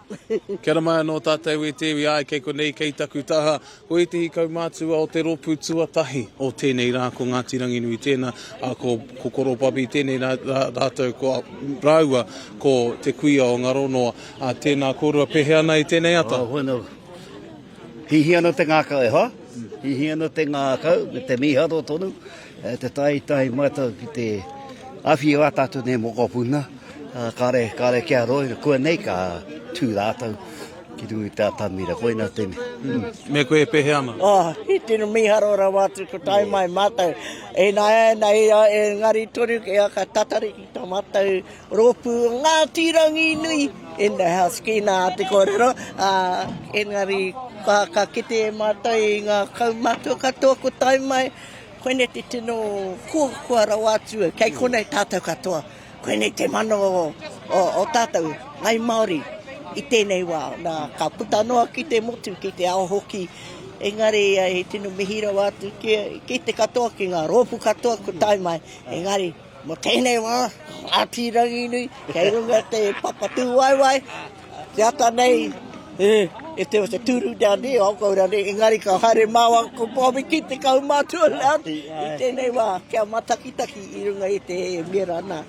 Kia ora mai anō tātou e te iwi, āe kei konei, kei taku taha. Ko ētehi kaumātua o te rōpū tuatahi o tēnei rā, ko Ngāti Ranginui tēnā, ā, ko, ko Koropapi tēnei rā, rā, rātou ko, rāua ko te kuia o Ngaronoa. Ā, tēnā kōrua, pēhea ana i tēnei ata? Oh, whenu. Hihi ana te ngākau, e hoa? Hihi ana te ngākau, me te mīharo tonu. E te tahi tahi matou ki te awhi wa tatou nei mokopuna, kare, kare kia roi, kua nei ka tu ratou ki runga i te atamira, koina tene. Mm. Me koe e pehe ana? Oh, i tino miharo rawa atu ko tai yeah. mai mātou. E nā e nā e a e ngari tonu ke a ka tatari ki tō mātou rōpū ngā tīrangi nui in the house ki nā te kōrero. Uh, engari ka, ka kite e mātou i ngā kaumātua katoa ko tai mai. Koinei te tino koakoa rawa atu, kei konei tātou katoa. Koinei te mana o tātou, ngai Māori, i tēnei wā. Nā, ka puta noa ki te motu, ki te ao hoki. Engari, he tino mihi rawa atu ki te katoa, ki ngā rōpū katoa kua tae mai. Engari, Mo tenei wa, Ngati Ranginui, kei runga te Papatūwaewae, te ata nei, if there was a turu down there, I'll go down there, engari ka haere maua ko Bobi ki te kaumātua Ngati, i tenei wa, kia matakitaki i runga i te miera na.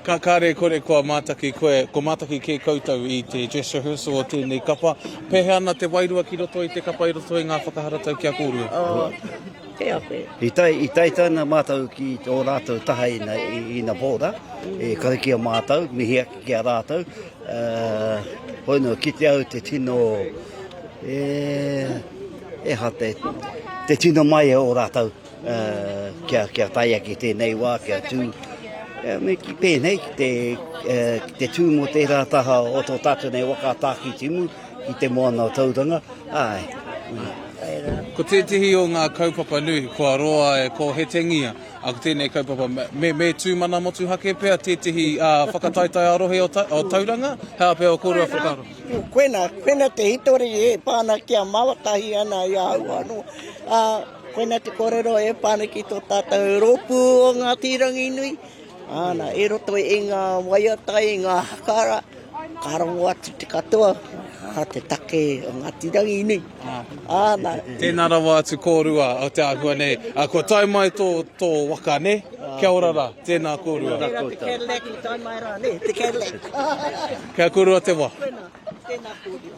Ka kare kore kua mataki koe, kua mataki ke koutou i te dress rehearsal o tenei kapa, pehea na te wairua ki roto i te kapa i roto i nga whakaharatau ki a korua? He awhe. I tae, i tae tana mātou ki tō rātou taha ina, ina pōra, e kare ki a mātou, mihi ake ki a rātou. Uh, hoi no, ki te au te tino, e, e ha te, te tino mai o rātou, uh, kia, kia tae ake tēnei wā, kia tū, Eh, me ki pēnei ki te, eh, ki te tū mō tērā taha o tō tātou nei waka tāki timu, I te moana o Tauranga, āe. Āe rā. Ko tētehi o ngā kaupapa nui kua roa e kōhetengia ko tēnei kaupapa me me tū mana motuhake pea tētehi whakataetae ā-rohe o Tauranga, he aha pea o kōrua whakaaro? Koina, koina te hitori e pā ana kia mātahi ana i ahau anō. Koina te kōrero e pā ana ki tō tātou rōpū o Ngāti Ranginui. Ana, i roto i nga waiata, i nga hakara, ka rongo atu te katoa, a te take o Ngati Rangi nei. Ana. Tēnā rawa atu kōrua o te āhua nei. A, kua tae mai tō, tō waka, nē? Kia ora rā, tēnā kōrua. Tēnā te Cadillac i tae mai rā, nē, te Cadillac. Kia korua te wā. Tēnā, tēnā kōrua.